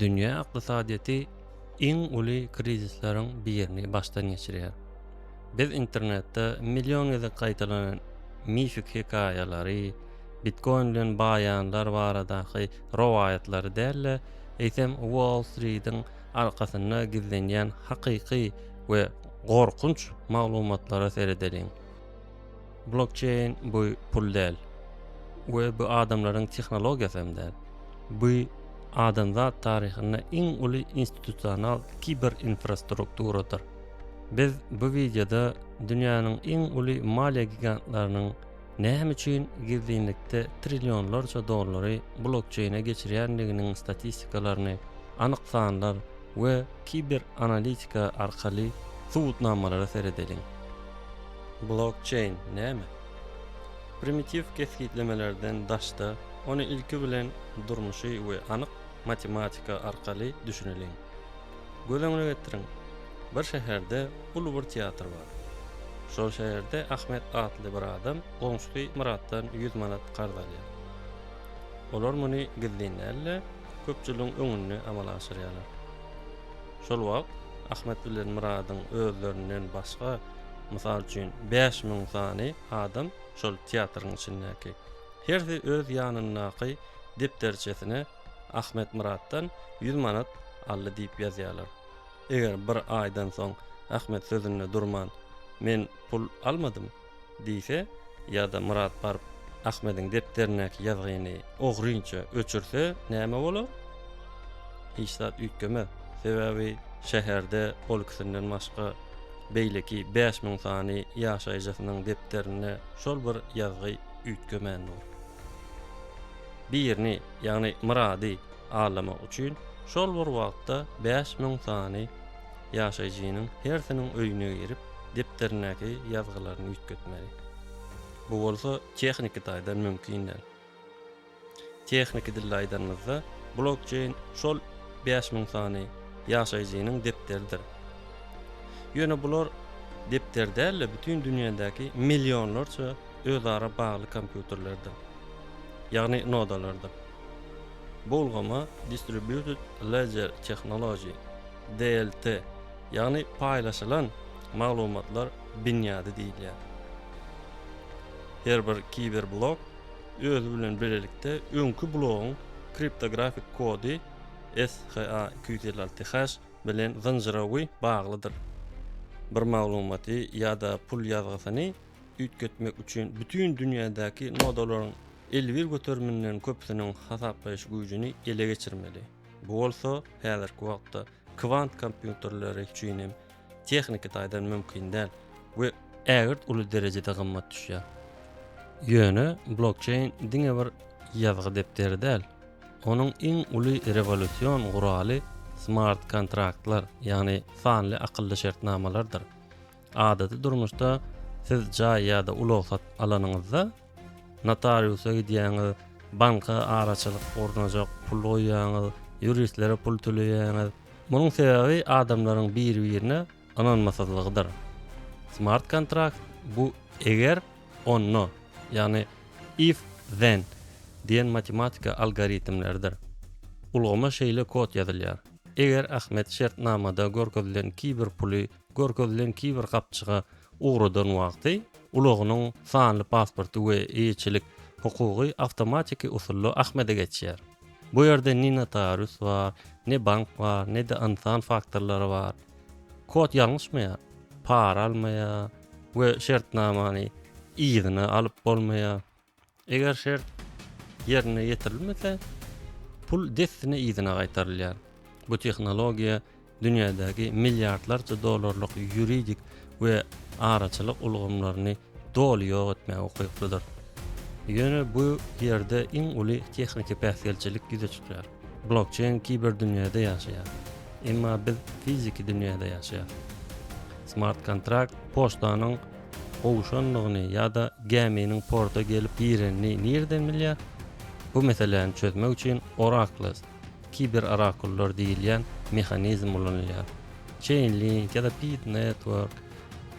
Dünýä ykdysadyýeti iň uly krizisleriň birini başdan geçirýär. Biz internetde million gezek gaýtalanan mifik hekaýalary, bitkoin bilen baýanlar baradaky rowaýatlary däl-de, eýsem Wall Street-iň arkasynda gizlenýän hakyky we gorkunç maglumatlara seredeliň. Blokçeýn bu pul däl we bu adamlaryň tehnologiýasy hem däl. Bu adamzat taryhynda iň uly institusional kiber infrastrukturadyr. Biz bu wideoda dünýäniň iň uly maliýe gigantlarynyň näme üçin gizlinlikde trillionlarça dollary blokçeýne geçirýändiginiň statistikalaryny, anyk sanlar we kiber analitika arkaly subutnamalara seredeliň. Blokçeýn näme? Primitiw kesgitlemelerden daşda, ony ilki bilen durmuşy we anyk matematika arkaly düşüneliň. Göz öňüne getiriň, bir şäherde uly bir teatr bar. Şol şäherde Ahmet atly bir adam goňşusy Myratdan ýüz manat karz alýar. Olar muny gizlin däl-de, köpçüligiň öňünde amala aşyrýarlar. Şol wagt Ahmet bilen Myradyň özlerinden başga, mysal üçin, bäş müň sany adam şol teatryň içindäki. Hersi öz ýanyndaky depderçesine Ahmet Myratdan ýüz manat aldy diýip ýazýarlar. Eger bir aýdan soň Ahmet sözünde durman, Men pul almadym. Diýse, ýa-da Myrat baryp Ahmediň depderindäki ýazgyny ogrynça öçürse näme bolar? Hiç zat üýtgemez. Sebäbi şäherde ol ikisinden başga beýleki bäş müň sany ýaşaýjysynyň depderinde şol bir ýazgy üýtgemän dur. Birini, ýagny Myrady Aglamak üçin şol bir wagtda bäş müň sany ýaşaýjynyň hersiniň öýüne girip, depderindäki ýazgylaryny üýtgetmeli. Bu bolsa tehniki taýdan mümkin däl. Tehniki dilde aýdanymyzda, blokçeýn şol bäş müň sany ýaşaýjynyň depderidir. Ýöne bular depder däl-de, bütin dünýädäki millionlarça özara bagly kompýuterlerdir. Ýagny nodalardyr. Bu ulgama Distributed Ledger Technology, DLT, ýagny paýlaşylan maglumatlar binýady diýilýär. Her bir kiberblok özi bilen bilelikde öňki blogyň kriptografik kody SHA iki ýüz elli alty hash bilen zynjyrawy baglydyr. Bir maglumaty ýa-da pul ýazgysyny üýtgetmek üçin bütin dünýädäki nodalaryň elbir göteriminden köpüsiniň hasaplaýyş güýjüni ele geçirmeli. Bu bolsa häzirki wagtda kwant kompýuterleri üçin hem tehniki taýdan mümkin däl we ägirt uly derejede gymmat düşýär. Ýöne blokçeýn diňe bir ýazgy depderi däl, onuň iň uly rewolýusion guraly smart kontraktlar, ýagny sanly akylly şertnamalardyr. Adaty durmuşda siz jaý ýa-da ulag satyp alanyňyzda, Notariusa gidýäňiz, banka araçylyk gurnajak pul goýýaňyz, ýuristlere pul töleýäňiz. Munuň sebäbi adamlaryň bir-birine ynanmasyzlygydyr. Smart kontrakt bu eger, onda, ýagny if, then diýen matematika algoritmleridir. Ulgama şeýle kod ýazylýar, Eger Ahmet şertnamada görkezilen kiber puly Görkezilen kiber gapjyga ugradan wagty ulagynyň sanly pasporty we eýeçilik hukugy awtomatiki usulda Ahmede geçýär. Bu ýerde ne notarius bar, ne bank bar, ne-de ynsan faktorlary bar. Kod ýalňyşmaýar, para almaýar we şertnamany yzyna alyp bolmaýar. Eger şert ýerine ýetirilmese, pul dessine yzyna gaýtarylýar. Bu tehnologiýa dünýädäki milliardlarça dollarlyk ýuridik we araçylyk ulgamlaryny doly ýok etmäge ukyplydyr. Ýöne bu ýerde iň uly tehniki päsgelçilik ýüze çykýar. Blokçeýn kiberdünýäde ýaşaýar, emma biz fiziki dünýäde ýaşaýarys. Smart-kontrakt poçtanyň gowşandygyny ýa-da gäminiň porta gelip girenini nireden bilýär? Bu meseläni çözmek üçin Oraklys, kiber-orakullar diýilýän mehanizm ulanylýar. Chainlink ýa-da Pit Network,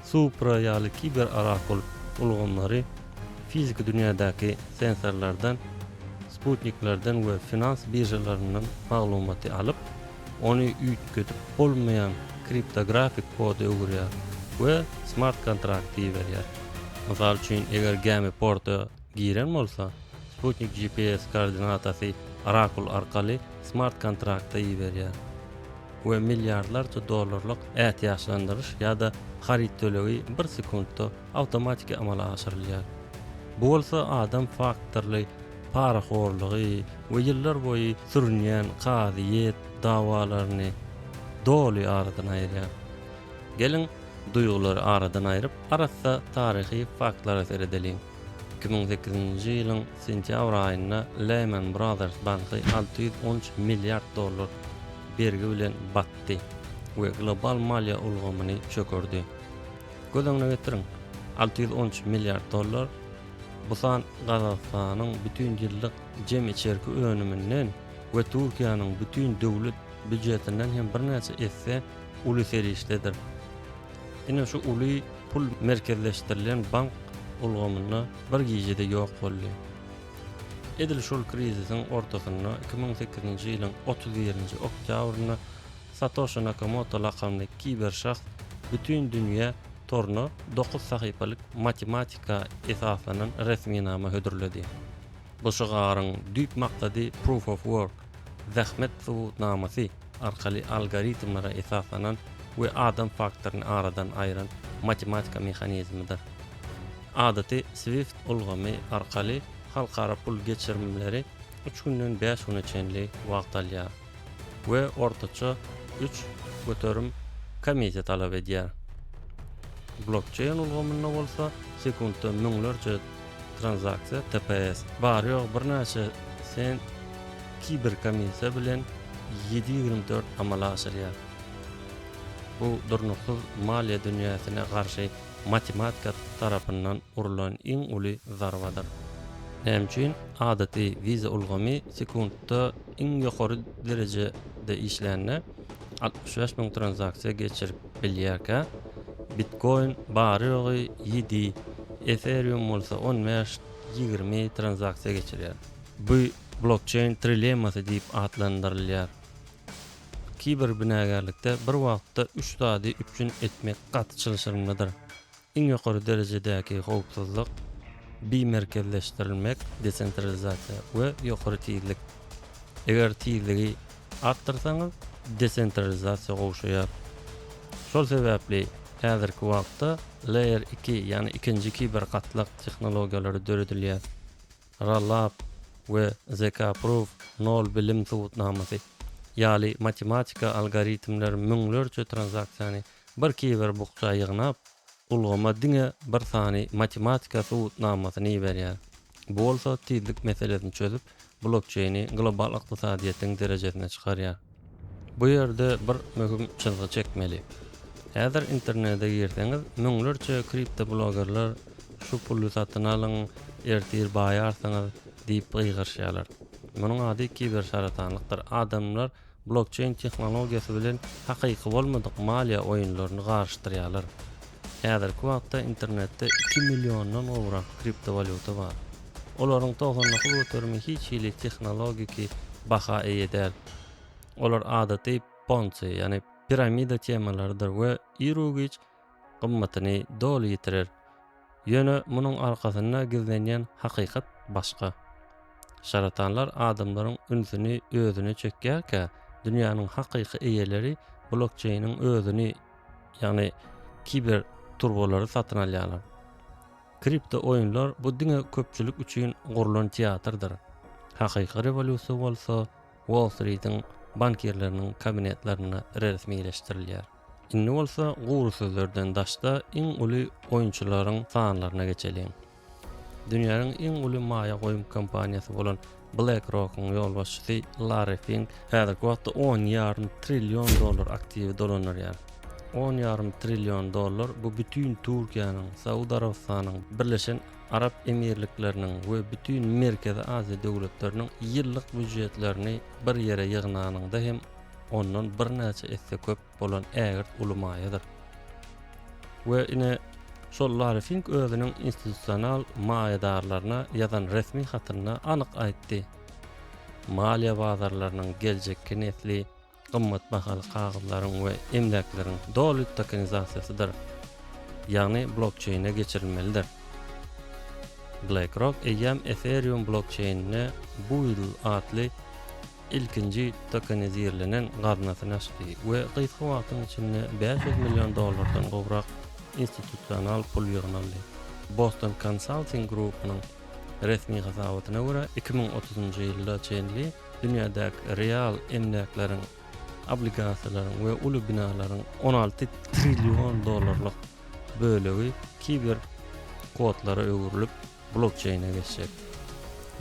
Supra ýaly kiber-orakul ulgamlary fiziki dünýädäki sensorlardan, sputniklerden we finans biržalaryndan maglumaty alyp, ony üýtgedip bolmaýan kriptografik koda öwürýär we smart kontrakt diýiberýär. Mysal üçin, eger gämi porta giren bolsa, sputnik GPS koordinatasy Oracle arkaly smart kontrakta iberýär we milliardlarça dollarlyk ätiýaçlandyryş ýa-da haryt tölegi bir sekuntda awtomatiki amala aşyrylýar. Bu bolsa adam faktorly parahorlygy we ýyllar boýy sürünýän kazyýet dawalaryny doly aradan aýyrýar. Geliň, duýgulary aradan aýryp, arassa taryhy faktlara seredeliň. Iki müň sekizinji ýylyň sentýabr aýynda Lehman Brothers banky alty ýüz on üç milliard dollar bergi bilen batdy we global maliýe ulgamyny çökerdi. Göz öňüne getiriň, alty ýüz on üç milliard dollar Bu san Gazagystanyň bütin ýyllyk jem içerki önüminden we Türkiýäniň bütin döwlet býujetinden hem birnäçe esse uly serişdedir. Ine şu uly pul merkezleşdirilen bank ulgamynda bir gijede ýok boldy. Edil şol krizisiň ortasynda iki müň sekizinji ýylyň otuz birinji oktýabrynda Satoşi Nakamoto lakamly kiber şahs bütin dünýä toruna dokuz sahypalyk matematika esaslanan resminama hödürledi. Bu şygaryň düýp maksady Proof of Work, Zähmet subutnamasy, arkaly algoritmlere esaslanan we adam faktoryny aradan aýyran matematika mehanizmidir. Adaty Swift ulgamy arkaly halkara pul geçirimleri üç günden bäş güne çenli wagt alýar. we ortaça üç göterim komissiýa talap edýär. Blokçeýn ulgamynda bolsa sekuntda müňlerçe tranzaksiýa tps, bary-ýogy birnäçe sent kiberkomissiýa bilen ýedi ýüz dört amala aşyrýar. Bu durnuksyz maliýe dünýäsine garşy matematika tarapyndan urlan iň uly zarbadyr. Näme üçin adaty Visa ulgamy sekuntda iň ýokary derejede işlände altmyş bäş müň tranzaksiýa geçirip bilýärkä, Bitcoin bary-ýogy ýedi, Ethereum bolsa on bäş, ýigrimi tranzaksiýa geçirýär. Bu blokçeýn trilemmasy diýip atlandyrylýar. Kiberbinagärlikde bir wagtda üç zady üpjün etmek gaty çylşyrymlydyr. Iň ýokary derejedäki howpsuzlyk, bimerkezleşdirilmek, desentralizasiýa, we ýokary tizlik. Eger tizligi artdyrsaňyz, desentralizasiýa gowşaýar. Şol sebäpli häzirki wagtda Layer iki, ýagny ikinji kibergatlak tehnologiýalary döredilýär. Rollup we ZK-Proof, nol bilim subutnamasy, ýaly matematika algoritmler müňlerçe tranzaksiýany Bir kiber bukja ýygnap, ulgama diňe bir sany matematika subutnamasyny iberýär. Bu bolsa tizlik meselesini çözüp, blokçeýni global ykdysadyýetiň derejesine çykarýar. Bu ýerde bir möhüm çyzgy çekmeli. Häzir internede girseňiz, müňlerçe kriptoblogerler şu puly satyn alyň, ertir baýarsyňyz diýip gygyryşýarlar. Munuň ady kibersaratanlykdyr. Adamlar. Blokçeýn tehnologiýasy bilen hakyky bolmadyk maliýe oýunlaryny garyşdyrýarlar. Häzirki wagtda internetde iki milliondan gowrak kriptowalýuta bar. Olaryň togsan dokuz göterimi hiç hili tehnologiki baha eýe däl. Olar adaty ponzi, ýagny piramida temalarydyr we ir-u-giç gymmatyny doly ýitirer. Ýöne munuň arkasynda gizlenýän hakykat başga. Şaratanlar adamlaryň ünsüni özüne çekýärkä, dünýäniň hakyky eýeleri blokçeýniň özüni, ýagny kiber turbalary satyn alýarlar. Kripto oýunlar bu diňe köpçülik üçin gurlan teatrdyr. Hakyky rewolýusiýa bolsa Wall-Stritiň bankirleriniň kabinetlerinde resmileşdirilýär. Indi bolsa gury sözlerden daşda iň uly oýunçylaryň sanlaryna geçeliň. Dünýäniň iň uly maýa goýum kompaniýasy bolan BlackRock-yň ýolbaşçysy Larri Fink häzirki wagtda on ýarym trillion dollar aktiwi dolandyrýar. On ýarym trillion dollar bu bütin Türkiýäniň, Saud Arabystanyň, Birleşen Arap Emirlikleriniň we bütin Merkezi Aziýa döwletleriniň ýyllyk býujetlerini bir ýere ýygnanyňda hem ondan birnäçe esse köp bolan ägirt uly maýadyr. We ine, şol Larry Fink özüniň institusional maýadarlaryna ýazan resmi hatynda anyk aýtdy, Maliýe bazarlarynyň geljekki nesli gymmat bahaly kagyzlaryň we emläkleriň doly tokenizasiýasydyr, ýagny blokçeýne geçirilmelidir. BlackRock eýýäm Ethereum blokçeýnine Build atly ilkinji tokenizirlenen gaznasyny açdy we gysga wagtyň içinde bäş ýüz million dollardan gowrak institusional pul ýygnaldy. Boston Consulting Group-nyň resmi hasabatyna görä, iki müň otuzynjy ýyla çenli dünýädäki real emläkleriň, obligasiýalaryň we uly binalaryň on alty trillion dollarlyk bölegi kiber kodlara öwrülip, blokçeýne geçjek.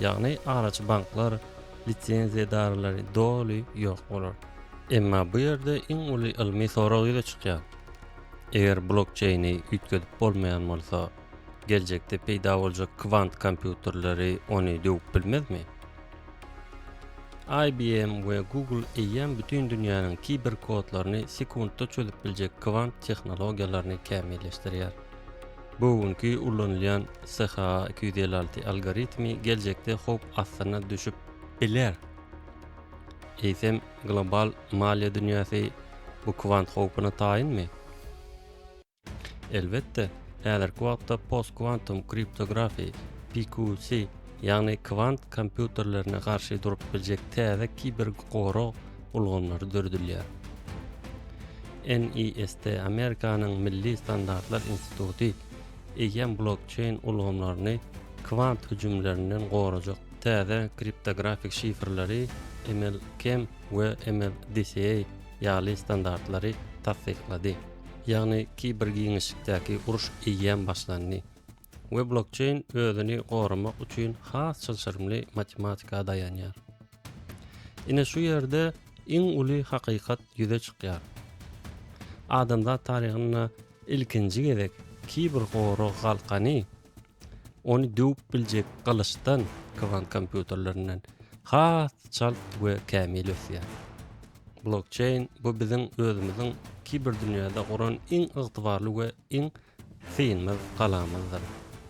Ýagny araçy banklar, lisenziýadarlary doly ýok bolar. Emma bu ýerde iň uly ylmy sorag ýüze çykýar. Eger blokçeýni üýtgedip bolmaýan bolsa, geljekde peýda boljak kwant kompýuterleri ony döwüp bilmezmi? IBM we Google eýýäm bütin dünýäniň kiberkodlaryny sekuntda çözüp biljek kwant tehnologiýalaryny kämilleşdirýär. Bu günki ulanylýan SHA iki ýüz elli alty algoritmi geljekde howp astyna düşüp biler. Eýsem, global maliýe dünýäsi bu kwant howpuna taýynmy? Elbetde, häzirki wagtda postkwantum kriptografiýa, PQC, ýagny kwant kompýuterlerine garşy durup biljek täze kibergorag ulgamlary döredilýär. NIST Amerikanyň Milli standartlar instituty eýýäm blokçeýn ulgamlaryny kwant hüjümlerinden gorajak täze kriptografik şifrleri MLKEM we MLDCA ýaly standartlary tassyklady. Ýagny kibergiňişlikdäki uruş eýýäm başlandy we blokçeýn özüni goramak üçin has çylşyrymly matematika daýanýar. Ine şu ýerde iň uly hakykat ýüze çykýar. Adamzat taryhynda ilkinji gezek kiber gorag galkany ony döwüp biljek gylyçdan, kwant kompýuterlerinden has çalt we kämil ösýär. Blokçeýn bu biziň özümiziň kiberdünýäde guran iň ygtybarly we iň Synymyz galamyzdyr.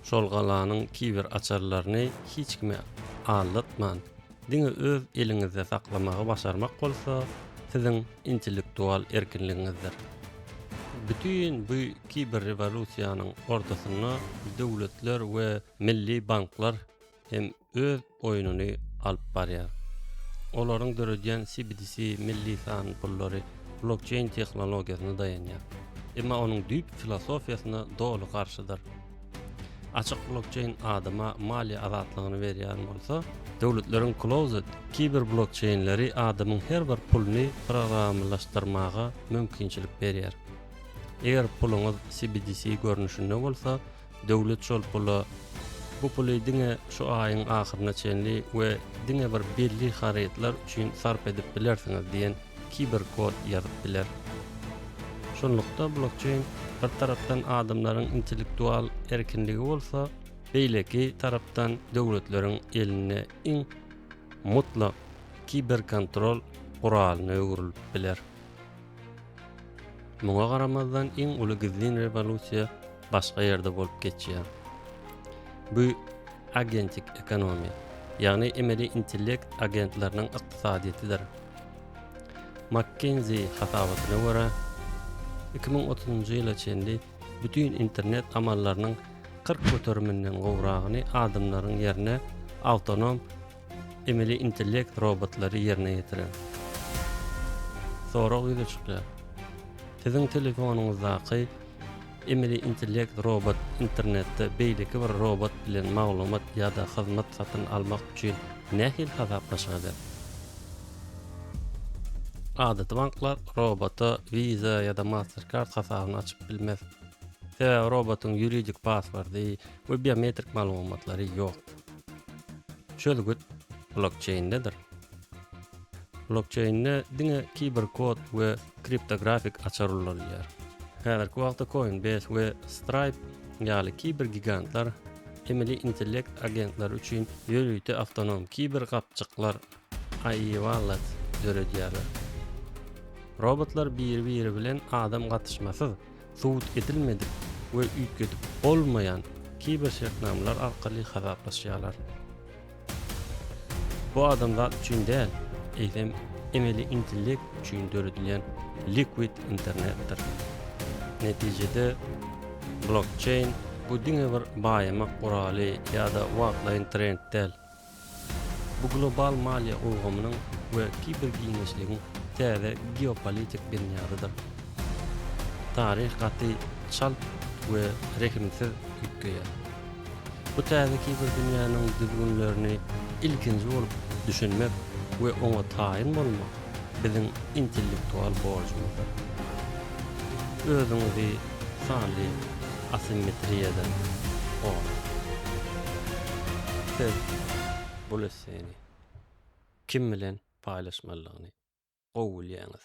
Şol galanyň kiber açarlaryny hiç kime aldatman, diňe öz eliňizde saklamagy başarmak bolsa siziň intellektual erkinligiňizdir. Bütin bu kiber rewolýusiýanyň ortasynda döwletler we milli banklar, hem öz oýnuny alyp barýar. Olaryň döredýän CBDC milli san pullary blokçeýn tehnologiýasyna daýanýar, emma onuň düýpki filosofiýasyna doly garşydyr. Açyk blokçeýn adama maliýe azatlygyny berýän bolsa, döwletleriň closed kiberblokçeýnleri adamyň her bir puluny programmalaşdyrmaga mümkinçilik berýär. Eger puluňyz CBDC görnüşinde bolsa, Döwlet şol pula bu puly diňe şu aýyň ahyryna çenli we diňe bir belli harytlar üçin sarp edip bilersiňiz diýen kiber kod ýazyp biler. Şunlukda blokçeýn bir tarapdan adamlaryň intellektual erkinligi bolsa, beýleki tarapdan döwletleriň elinde iň mutlak kiberkontrol guralyna öwrülip biler. Muňa garamazdan iň uly gizlin rewolýusiýa başga ýerde bolup geçýär. Bu agentik ekonomiýa, ýagny emeli intellekt agentleriniň ykdysadyýetidir. McKinsey hasabatyna görä, iki müň otuzynjy ýyla çenli bütin internet amallarynyň kyrk göteriminden gowragyny adamlaryň ýerine awtonom Emeli intellekt robotlary ýerine ýetiren sorag ýüze çykýar. Siziň telefonyňyzdaky emeli intellekt robot internetde beýleki bir robot bilen maglumat ýa-da hyzmat satyn almak üçin nähili hasaplaşyk eder? Adaty banklar robota Visa ýa-da Mastercard hasabyny açyp bilmez. Sebäbi robotyň ýuridik paswordy we biometrik maglumatlary ýok. Çözgüt blokçeýindedir. Blokçeýinde diňe kiberkod we kriptografik açar ulanylýar. Häzirki wagtda Coinbase we Stripe ýaly kibergigantlar emeli intellekt agentlary üçin ýörite awtonom kiber gapjyklar AI Wallet döredýärler. Robotlar biri-biri bilen adam gatyşmasyz, subut edilmedik we üýtgedip bolmaýan kiber şertnamalar arkaly hasaplaşýarlar. Bu adamzat üçin däl, eýsem emeli intellekt üçin döredilýän liquid internetdir. Netijede blokçeýn bu diňe bir baýamak guraly ýa-da wagtlaýyn trend däl, Bu global maliýe ulgamynyň we kibergiňişligiň täze geopolitik binýadydyr. Taryh gaty çalt we rehimsiz üýtgeýär. Bu täze kiberdünýäniň düzgünlerini ilkinji bolup düşünmek we oňa taýyn bolmak biziň intellektual borjumyzdyr. Özüňizi sanly asimmetriýadan goraň. Siz bul esseni kim bilen paýlaşmalydygyny gowy bilýäňiz.